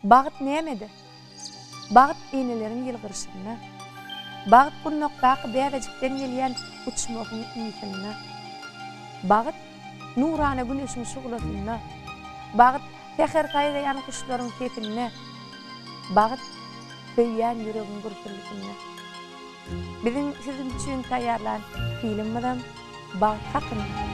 Bagt nämede? Bagt eneleriň ýylgyryşynda. Bagt gundakdaky bäbejikden gelýän uçmagyň ysynda. Bagt Nurana güneşiň şuglasynda. Bagt, säher saýraýan guşlaryň sesinde. Bagt, söýýän ýüregiň gürpüldisinde. Biziň siziň üçin taýýarlan filmimizem bagt hakynda.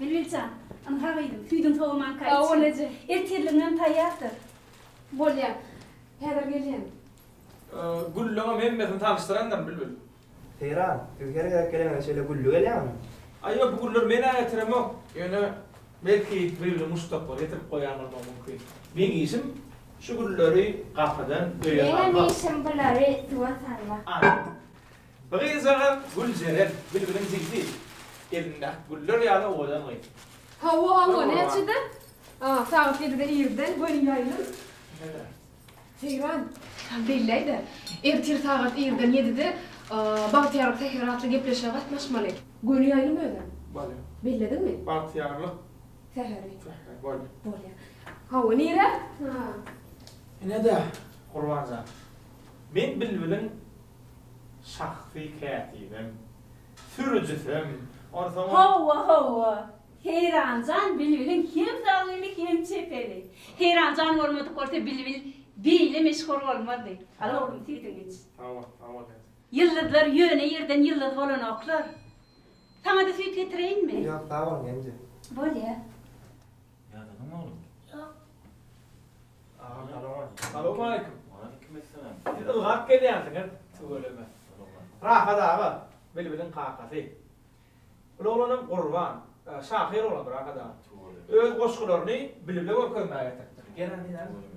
Bilbil jan, ynha gyzym, süýdüň sowamanka iç. Sag-ol eje. Ertirligiňem taýýardyr. Bolýar. Häzir gelýän. Gülliňem hemmesini tanyşdyrandyryn, Bilbil. Seýran, siz her gezek geleňize şeýle gülli gelýäňizmi? Aý, ýok, bu gülleri men-ä getiremok. Ýöne, belki, Bilbiliň muşdaklary getirip goýan bolmagy mümkin. Meň işim şu gülleri gapydan öýe salmak. Meňem işim bulary suwa salmak. Aý. Bir gyzjagaz Güljeren, bilbiliň jigsi, elinde ak güller ýaly owadan gyz. Hawa, hawa, näçede? A, sagat ýedide irden göni ýaýlym. Näme? Seýran, sen belläý-de, ertir sagat irden ýedide Bagtyýarlyk säheri atly gepleşige gatnaşmaly. Göni ýaýlym özem? Bolýa. Bellediňmi? Bagtyýarlyk. Säheri. Säheri, bolýa. Bolýa. Hawa, nirä? Ine-de, Gurban jan, men bilbiliň. şahsy kätibem, sürüjisem, onsoňam. Hawa, hawa. Heýran jan bilbiliň hem zalymy, hem çepeli. Heýran jan bolmadyk bolsa bilbil beýle meşhur bolmazdy. Al oglum, süýdüňi iç. Hawa, hawa däde. Ýyldyzlar ýöne ýerden ýyldyz bolanoklar. Saňa-da süýt getireýinmi? Ýok, sag boluň, indi. Bolýa. Ýadyňmy oglum? Ýok. Agam salowmaleýkim. Salowmaleýkim. Waleýkimessalam. Siz ylgap gelýänsiňiz, tüweleme. Rahat aga, Bilbiliň kakasy. Ol oglanam gurban, şahyr oglandyr Rahat aga. Öz goşgularyny Bilbile görkezmäge getiripdir. Gel, Rahat aga.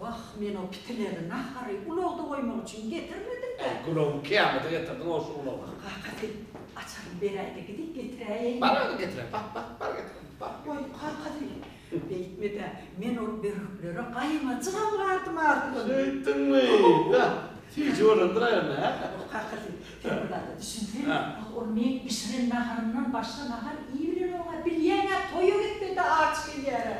Wah, men o pitileri nahary ulagda goýmak üçin getirmedim-dä. Äý, gulagyň kyýamata getirdiň-ow şu ulagy. Wah, kakasy, açaryny beräý-de, gidip getiräýeýin. Bar, özi getiren. Bak, bak, bar getiren, bar. Goý, kakasy, Beýtme-dä, men ol börüklere gaýymajygam gardym artyn. Şeýtdiňmi? Hä, süýji bolandyr aýanda, hä? Ýok, kakasy, sen bir zada düşünseň, ah, ol meň bişiren naharymdan başga nahar iýibilenoga, bilýäň-ä, toýa gitmede aç gelýär-ä.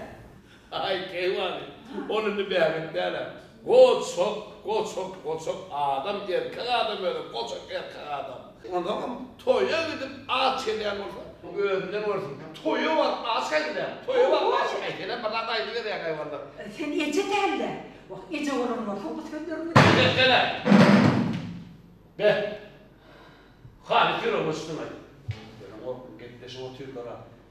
Aý, keýwany, ol indi bäbek däl-ä. Goçak goçak goçak adam erkek adam özi goçak erkek adam. Onsoňam toýa gidip aç gelýän bolsa özünden görsün. Toýa baryp aç gaýdyläň. Toýa baryp aç gaýdyläň birnäçe aýdyp gelýäň haýwanlar. Sen eje dälde. Wah eje bolan bolsaň bu sözleriň bilen. Behlele. Be. Haly süre goşduňaý. Görüň oglum gepleşip otyrlara.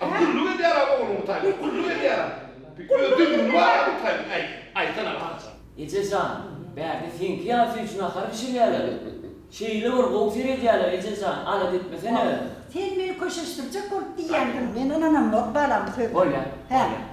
Hä gulluk edýära ogluň Hytaýda gulluk edýära öz döwrüni bara Hytaýyň äý aýtsana Laçyn. Eje jan, bärde seňki ýaly üçin nahar bişirýäler. Şeýle bir gowy seredýäler eje jan, alada etmesene özüň. Sen meni köşeşdirjek bolup diýýändiň, men ynanamok balam sözüne. Bolýa, bolýa.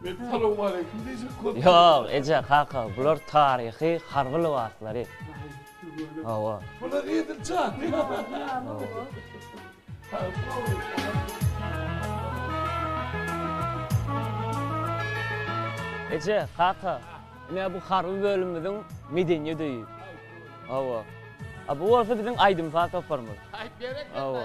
Men salowmaleýkim diýjek boldum. Ýok, eje, kaka, bular taryhy harby lybaslary. Hawa. Bular edil Eje, kaka, ine bu harby bölümimiziň medeniýet öýi. Hawa. A bu bolsa biziň aýdym-saz toparymyz. Hawa.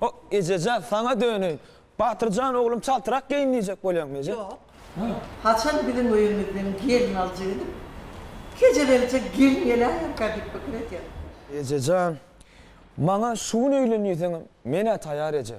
Hok, ejeje, saňa döneýin. Batyr jan oglum çaltrak geýin diýjek bolýaňmy eje? Ýok. Haçan biziň öýümizden gelin aljak edip, kejebelje gelin geläýerkä diýip pikir edýän. Ejejan, maňa şu gün öýlenýseňem, men-ä taýar eje.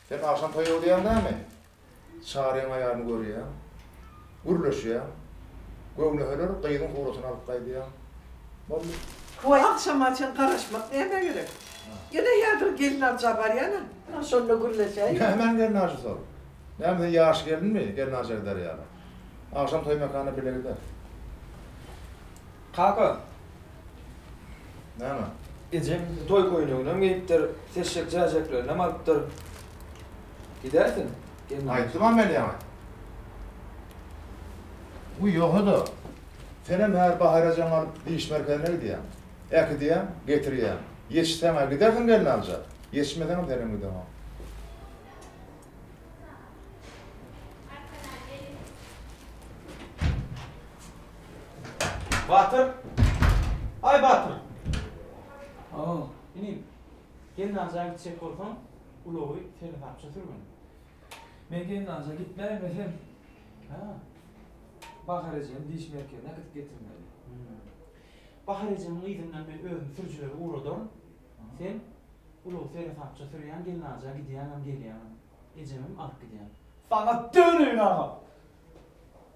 Sen agşam toýa gidýäň näme? Çaryň aýalyny görýäň. Gürleşýäň. Göwneheler gyzyň suratyny alyp gaýdýaň. Boldy. Toý agşama çen garaşmak nämä gerek? Ýene häzir gelin aljyja barýan-a. Ýa şonda gürleşäýiň. Nämäň gelin aljysy ol? Näme sen ýaş gelinmi, gelin aljyja gider ýaly? Agşam toý mekanyna bile gider. Kaka! Näme? Ejeň toý köýneginem geýipdir, seşşek jäjeklerinem alypdyr. Gidäýsin, gelneje. Aýtdym-a men ýaňy. Guý, ýogsa-da, senem häzir Bahar ejeňi alyp diş merkezine gidýäň. Äkidýäň, getirýäň. Ýetişseň-ä gidersiň gelni alyja. Ýetişmeseňem senem gideňok. Batyr! Aý Batyr! Aw, inim. Gelnaja gitjek bolsaň, ulagy seresapça sürgün. Men Gelnaja gitmäýmesem, hä, Bahar ejemi diş merkezine akytyp getirmeli. Bahar ejemiň yzyndan men özüm sürüjileri ugradaryn. Sen ulagy seresapça sürýäň, Gelnaja gidýäňem, gelýäňem. Ejemem alyp gidýäň. Saňa döneýin agam!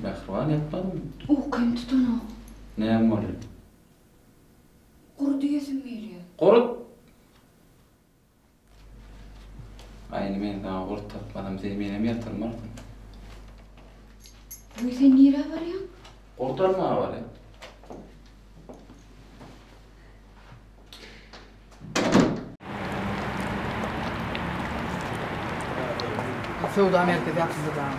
Mähriban ýatmadym. Ukym tutanok. Näme boldy? Gury diýesim gelýär. Gurut! Aýna men saňa gurt tapmadym sen menem ýatyrmarsyň. Öý sen nirä barýaň? Gurt almaga barýan. Söwda merkezi ýapyldy dagy.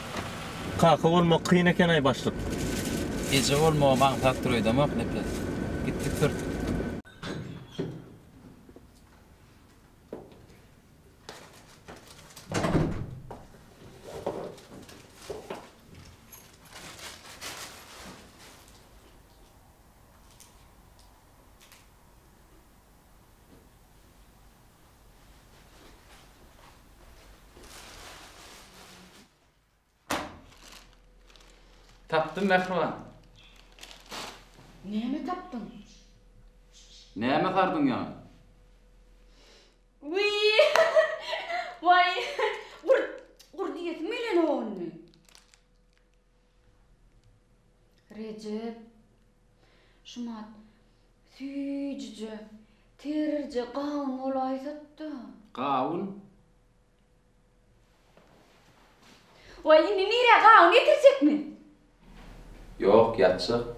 Kaka bolmak kyn ekenaý başlyk. Eje bolmagam aňsatdyr öýdemok nepes. Gitdik syrtyk. Tapdym mähriban. Näme tapdyň? Näme sardyň ýaňy? Wiý! Waý! Gurt! Gurt iýesim gelýä nowany. Rejep, Şumat, süýjüje, terje gawun bolaýsat-da! Gawun? Waý, indi nirä, gawun getirjekmi? Ýok, ýatjak.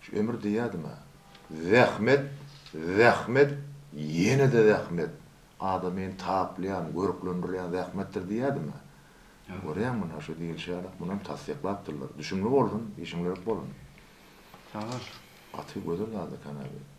Şu ömür diýýädim-ä. Zähmet, zähmet, ýene-de zähmet. Adamy taplaýan, görklendirýän zähmetdir diýýädim-ä. Görýäň muna şu diýilişi ýaly, muny hem tassyklapdyrlar. Düşümli bolsun, işiňiz örk bolun. Sag bol. Gaty gözel zat ekeni-ä bu.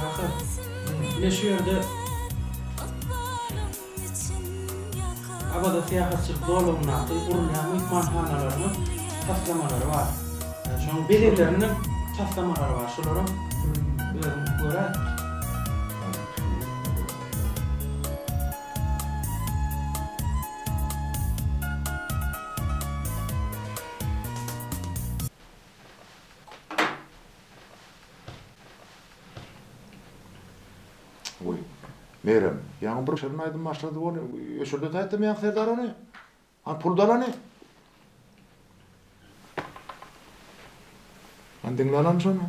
Kaka, ine şu ýerde Awaza syýahatçylyk zolagyndaky gurulýan myhmanhanalarynyň taslamalary bar. Şonuň bezegleriniň taslamalary bar. Şolaram özüň göräý. Goý, Merem, ýaňy bir şirin aýdym başlady bol, öçürdet aýtdym ýaňy Serdar ony. Hany pul dalany? Hany diňle alany şony.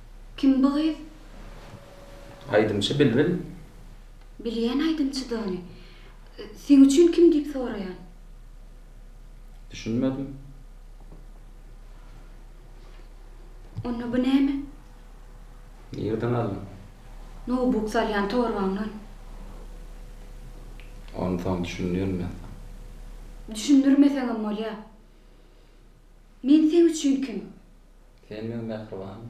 Kim bu gyz? Aýdymçy Bilbil. Bilýän aýdymçydy ony. Seň üçin kim diýip soraýan. Düşünmedim. Onda bu näme? Nirden aldyň? Nowbuk salýan torbaňdan. Ony soň düşündirme. Düşündirmeseňem bolýar. Men seň üçin kim? Sen meň mähribanym.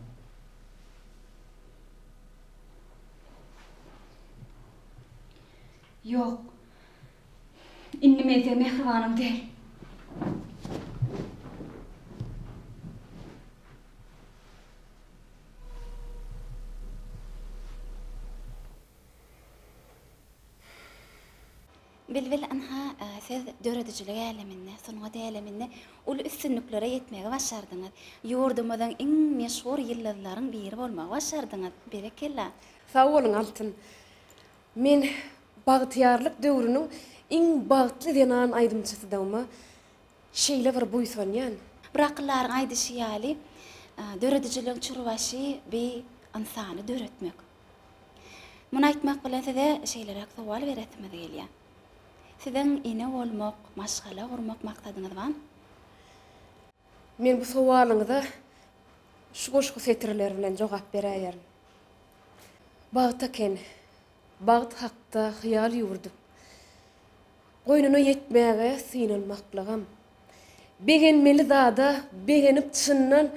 Ýok. Indi men seň mähribanyň däl. Bilbil ynha, siz döredijilik äleminde, sungat äleminde uly üstünliklere ýetmegi başardyňyz. Ýurdumyzyň iň meşhur ýyldyzlaryň biri bolmagy başardyňyz. Berekella! Sag boluň Altyn. Men bagtyýarlyk döwrüniň iň bagtly zenan aýdymçysydygyma şeýle bir buýsanýan. Bir akyldaryň aýdyşy ýaly, Döredijiligiň çürbaşy bi ynsany döretmek. Muny aýtmak bilen size şeýleräk sowal beresimiz gelýär. Siziň ene bolmak, maşgala gurmak maksadyňyz barmy? Men bu sowalyňyza şu goşgy setirleri bilen jogap beräýerin. Bagt eken, bagt hakda hyýal ýüwürdip, Goýnuna ýetmäge synanmaklygam. Begenmeli zada begenip çyndan,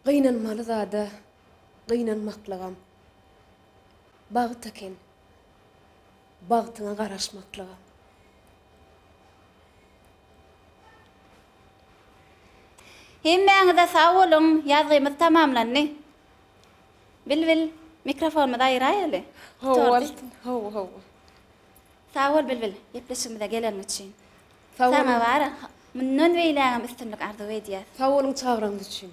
Gynanmaly zada Gynanmaklygam bagt eken, bagtyňa garaşmaklygam. Hemmäňize sag boluň, ýazgymyz tamamlandy. Bilbil, mikrofonymyzy aýyraýaly. Hawa, bolsun. Hawa, hawa. Sag bol, Bilbil, gepleşigimize geleniň üçin. Sag boluň. Saňa mundan beýlägem üstünlik arzuw edýäs. Sag boluň çagyrygyňyz üçin.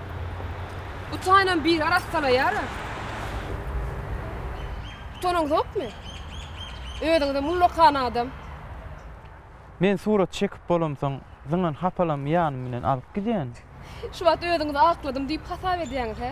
Utaýynam biri arassalaýar-a. Utanaňzokmy? Özüňizem ullakan adam. Men surat çekip bolamsoň, zyňan hapalamy ýanym bilen alyp gidýän. Şu wagt özüňizi akladym diýip hasap edýäňiz, hä?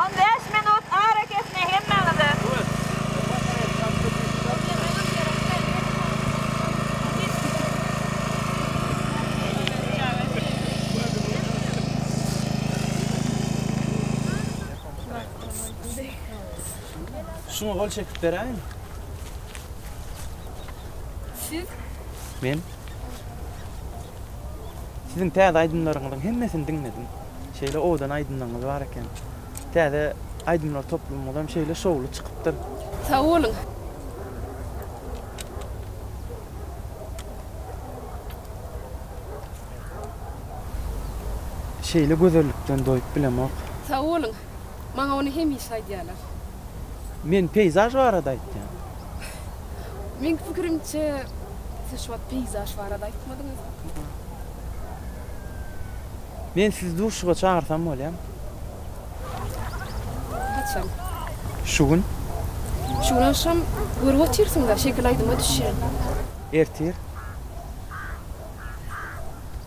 On bäş minut arakesme hemmäňize. Şuňa gol çekip beräýin. Siz? Men. Siziň täze aýdymlaryňyzyň hemmesini diňledim. Şeýle owadan aýdymlaryňyz bar eken. Täze aýdymlar toplumyňyz hem şeýle şowly çykypdyr. Sag boluň. Şeýle gözellikden doýup bilemok. Sag boluň. Maňa ony hemişe aýdýarlar. Men peýzaž barada aýtýan. Meň pikirimçe, siz şu wagt peýzaž barada aýtmadyňyz. Men sizi duşuşyga çagyrsam bolýamy? Haçan? Şu gün. Şu gün agşam görüp otyrsyň-da, şekil aýdyma düşýän. Ertir.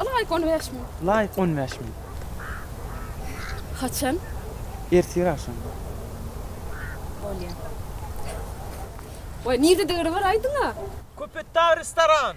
Laýk on bäş müň. Laýk on bäş müň. Haçan? Ertir agşam. Bolýar. Goý nirde degri bar aýdyňa. Köpetdag restoran.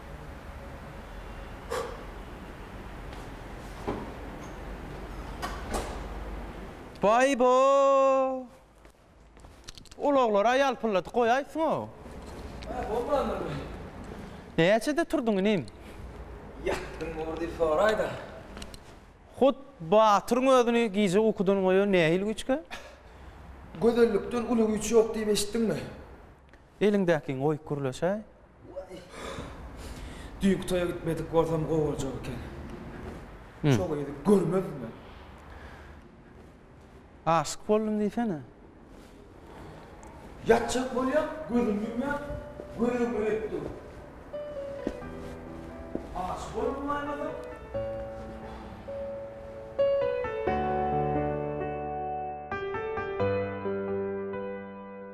Baý bo! Ulaglary-a ýalpylladyp goýaýsyň-ow. Hä, bolmandyr. Näçede turduň inim? Ýatdym bor diýip soraý-da. Hut batyryň özüni gije ukudan goýan nähili güýçkä? Gözellikden uly güýç ýok diýip eşitdiňmi? Eliňdäkiňi goýup gürleşäý. Waý. Düýnki toýa gitmedik bolsam gowy boljak eken. Şo gyzy görmezdim men. Aşyk boldum diýsene. Ýatjak bolýan, gözümi ýumýan, göregiň öýüp dur. Aşyk boldum bolmasaň.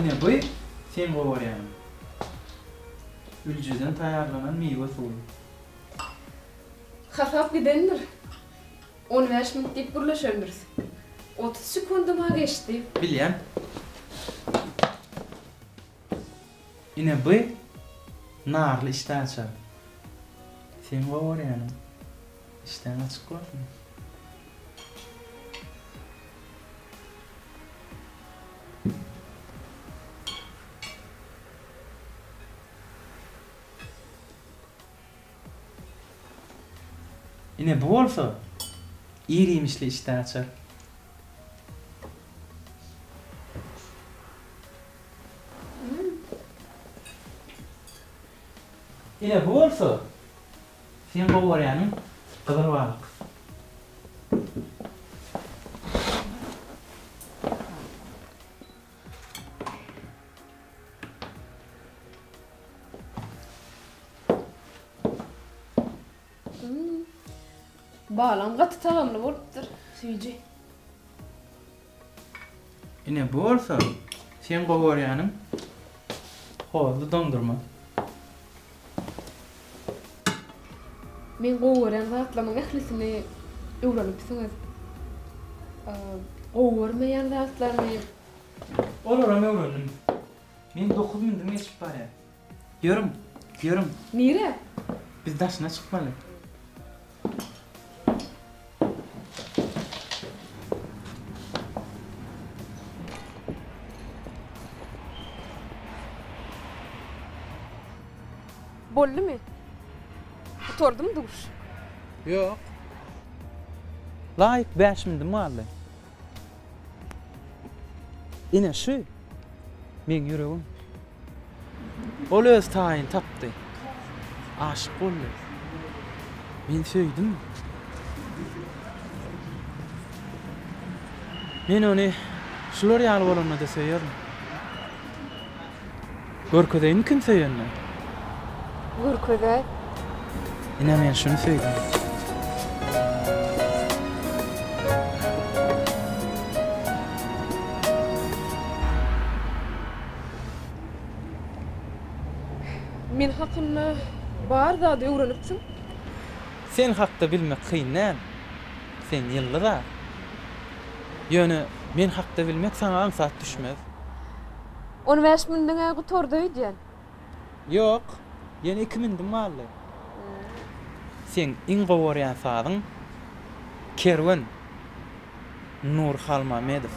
Ine bu sen gowarýan üljeden taýýarlanan miwe suwy. Hasap gidendir. On bäş minut diýip gürleşendiris. Otuz sekundam-a geçdi. Bilýän. Ine by narly işdä açar. Seň gowy görýäniň işdäň açyk bolsun. Ine bu bolsa ir iýmişli işdä açar. Ine bu bolsa sen gowy görýäniň gyzyl balyk. Balygym gaty tagamly bolupdyr, süýji. Ine bu bolsa seň gowarýanyň hozly doňdurma. Meň gowarýan zatlarynyň ählisini öwrenipsiňiz. Gowarmaýan zatlaryny. Olaram öwrendim. Men dokuz mündüm geçip barýan. Ýörüň, ýörüň. Nirä? Biz daşyna çykmaly. Boldumy? Gutardymy duş? Ýok. Laýyk bäş mindim galdy. Ine şu meň ýüregim. Ol öz taýyny tapdy. Aşyk boldy. Men söýdüm. Men ony şular ýaly bolanda-da söýerin. Görkezeýinmi kim söýenini? Görkezäý. Ine men şuny söýdüm. Men hakynda bar zady öwrenipsiň. Sen hakda bilmek kyn däl. Sen ýyldyz-a. Ýöne men hakda bilmek saňa aňsat düşmez. On bäş mündüň-ä gutardy öýdýän. Ýok, ýene iki mündüm galdy. Seň iň gowy görýän sazyň Kerwen Nurhalmamedow.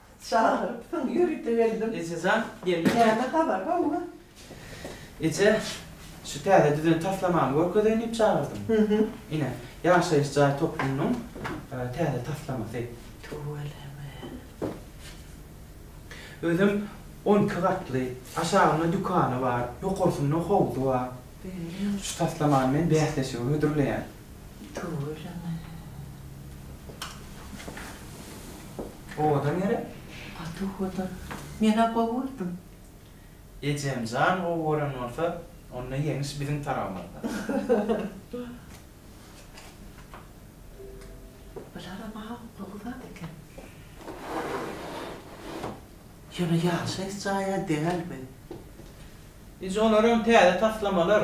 Çagyrypsyň, ýörite geldim. Ejejan, geldim. Näme habar, howwa? Eje, şu täze düzen taslamamy görkezeýin diýip çagyrdym. Hü-hü. Ine, ýaşaýyş jaý toplumynyň täze taslamasy. Tüweleme. Özem on iki gatly, aşagynda dükany bar, ýokarsynda howzy bar. Şu taslamany men bäsleşige hödürleýän. Tüweleme. Owadan ýere. Gaty owadan. Men-ä gowy gördüm. Ejemjan gowy gören bolsa, onda ýeňiş biziň tarabymyzda. Bularam awukly gyzat eken. Ýöne ýaşaýyş jaýa dälbi? Ije olaram täze taslamalar.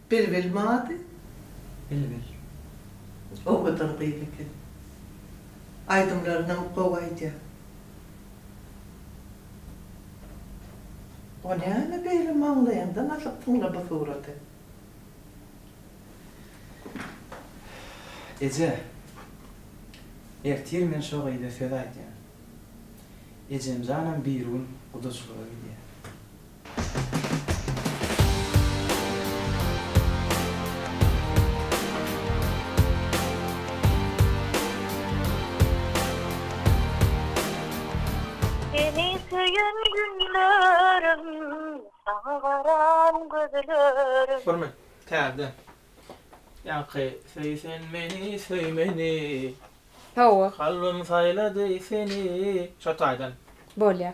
Bilbil mady, bilbil. Owadan gyz eken. Aýdymlarynam gowy aýdýa. O näme beýle maňlaýyňdan asyp tyňla bu suraty. Eje. Ertir men şo gyza söz aýdýan. Ejemjanam birigün gudaçylyga gidýä. Seni söýen günlerim Saňa garan gözlerim. Hormat, Täze ýaňky Söý sen meni, söý meni. Hawa. Kalbym saýlady seni. Şo taýdan. Bolýar.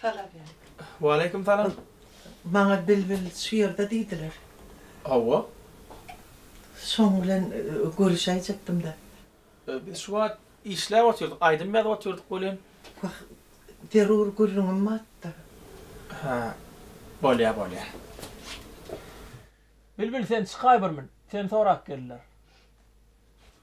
Salam ýa. Waleýkim salam. Maňa bilbil şu ýerde diýdiler. Hawa. Şoň bilen görüşäýjekdim-de. Biz şu wagt işläp otyrdyk, aýdym ýazyp otyrdyk welin. Wah, zerur gürrüňim batdy. Hä, bolýa, bolýa. Bilbil sen çykaý bir min, seni sorap geldiler.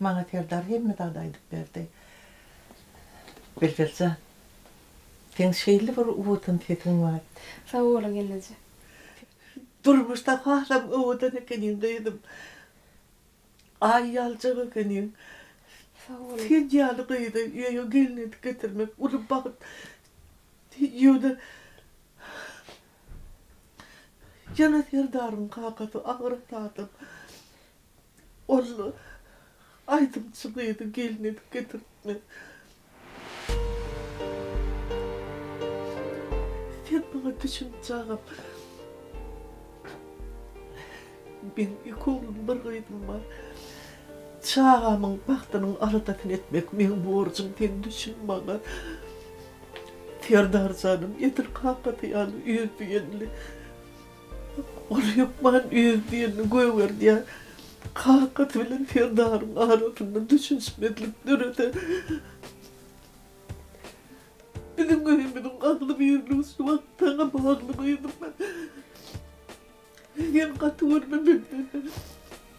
Maňa Serdar hemme zady aýdyp berdi. Bilbil jan, seň şeýle bir owadan sesiň bar. Sag boluň ýeneje. Durmuşda hasam owadan ekeniň gyzym. Aý ýaljak ekeniň. Sag boluň. Sen ýaly gyzy öýe gelin edip getirmek uly bagt. Ýöne Jana Serdaryň kakasy Agrat adam. Ol aýdymçy gyzy gelin edip getiripmi? Sen maňa düşünje agam. Meň iki oglum, bir gyzym bar. Çagamyň bagtynyň aladasyny etmek meň borjum, sen düşün maňa. Serdar janam edil kakasy ýaly öýdügenli. Ol hökman öz birini gögerdýär. Kakasy bilen Serdaryň arasynda düşünişmezlik dörese, biziň öýümiziň agzybirligi şu wagt saňa bagly gyzym. Sen gaty görme menden.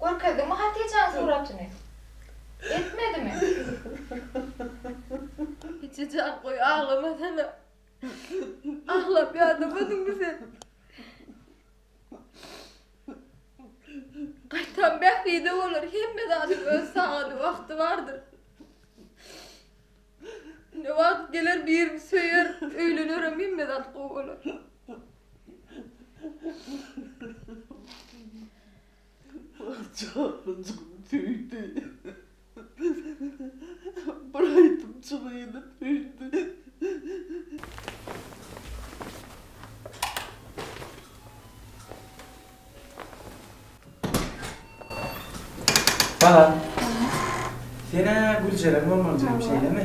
Görkezdiňmi Hatijäň suratyny? Etmedimi? Hatijejan goý aglamasana. Aglap ýadamadyňmy sen? Gaýtam Bähbide bolar, hemme zadyň öz sagady, wagty bardyr. Ine wagt geler birini söýer, öýlenerem hemme zat gowy bolar. Jahlyjygyň söýdi. Bir aýdym çygyny söýdi. Balam. Sen-ä Güljeren bolmaly jigim, şeýlemi?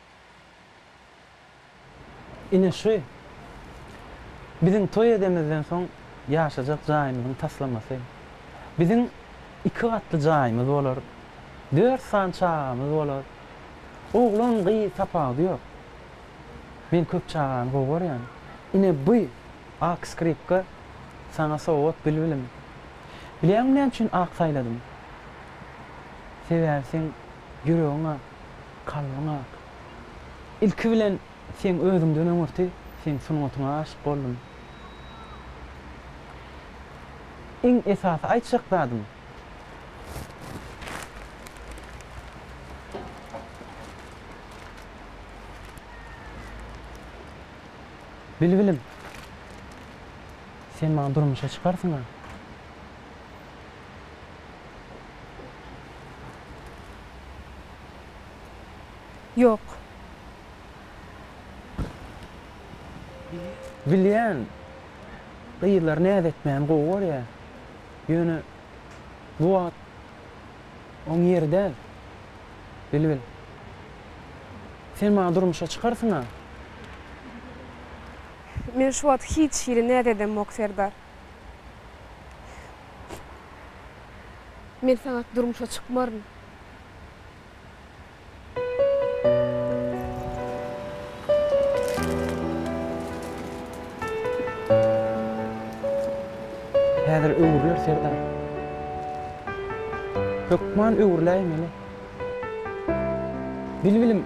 Ine şu biziň toý edemizden soň ýaşajak jaýymyzyň taslamasy. Biziň iki gatly jaýymyz bolar. Dört sany çagamyz bolar. Oglan, gyz tapawudy ýok. Men köp çagany gowy görýän. Ine bu ak skripka saňa sowgat bilbilim. Bilýäňmi näme üçin ak saýladym? Sebäbi seň ýüregiň ak. Kalbyň ak. Ilki bilen seň özüňden öňürti seň sungatyňa aşyk boldum. Iň esasy aýtjak zadym. Bilbilim. Sen maňa durmuşa çykarsyňa. Ýok. Bilýän, gyzlar näz etmäni gowy görýär. Ýöne bu wagt oň ýeri däl. Bilbil. Sen maňa durmuşa çykarsyň-a? Men şu wagt hiç hili näz edemok, Serdar. Men saňat durmuşa çykmaryn. Häzir öwrüler serdar. Hökman öwrüläýmeli. Bilbilim.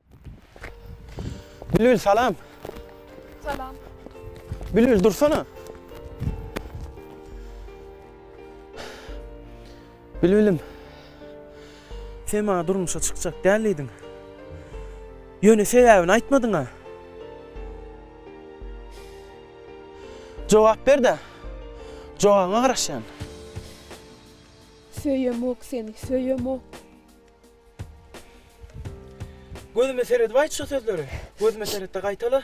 Bülbül salam. Salam. Bülbül dursana. Bülbülüm. Sen maňa durmuşa çykjak däl diýdiň. Ýöne sebäbini aýtmadyň-a. Jogap ber-de. Jogabyňa garaşýan. Söýemok seni, söýemok. Gözüme seredip aýt şu sözleri. Gözüme seretde gaýtala.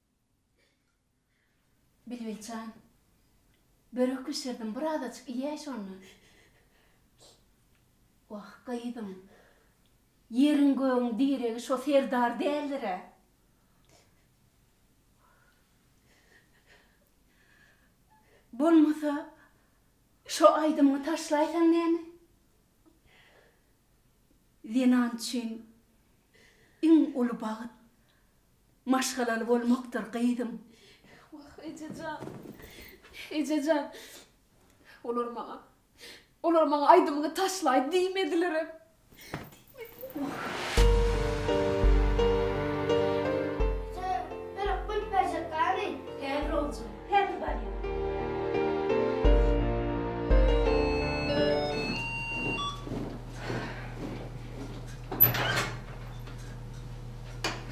Bilbil jan, börek bişirdim, bir azajyk iýäý şonda. Wah, gyzym, ýeriň-gögüň diregi şo serdar däldir-ä. Bolmasa, şo aýdymyňy taşlaýsaň näme? Zenan üçin iň uly bagt Maşgalaly bolmakdyr, gyzym. Wah, ejejan. Ejejan. Olar maňa. Olar maňa aýdymyňy taşlaý diýmedilerem.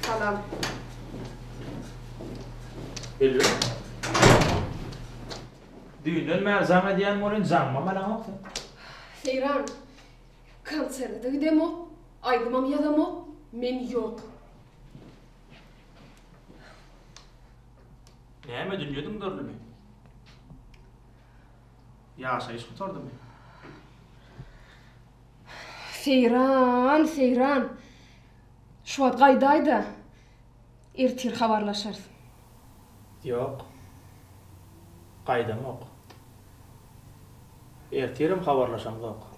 Salam. Hello. Düýnden bäri jaň edýän welin jaňymam alaňok sen. Heýran. Konserte-de gidemok, aýdymam ýazamok, men ýok. Näme dünýe dymdyrlymy? Ýaşaýyş gutardymy? Heýran, heýran. Şu wagt gaýdaýda, ertir habarlaşarys. Ýok. Gaýdamok. Ertirem habarlaşamzok.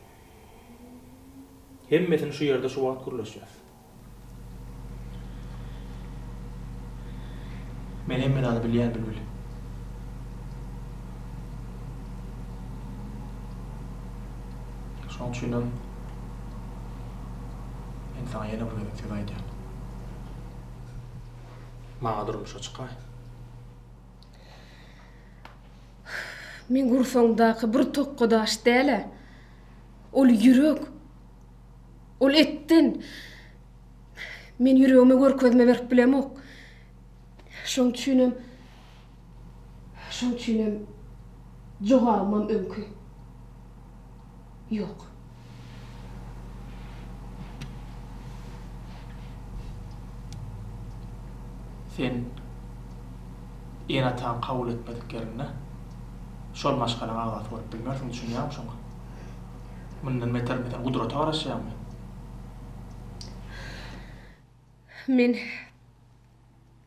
Hemmesini şu ýerde şu wagt gürleşýäs. Men hemme zady bilýän, Bilbil. Şoň üçinem. Men saňa ýene bir gezek söz aýdýan. Maňa durmuşa çykaý. Meň gursagymdaky bir tokga daş däl-ä. Ol ýürek. Ol etden. Men ýüregime görkezme berip bilemok. Şoň üçinem Şoň üçinem jogabymam öňki Ýok. Sen ene-ataň kabul etmedik ýerinde şol maşgalaň agzasy bolup bilmersiň, düşünýäňmi şoňa? Mundan beter men seni gudrata garaşýarmy? Men.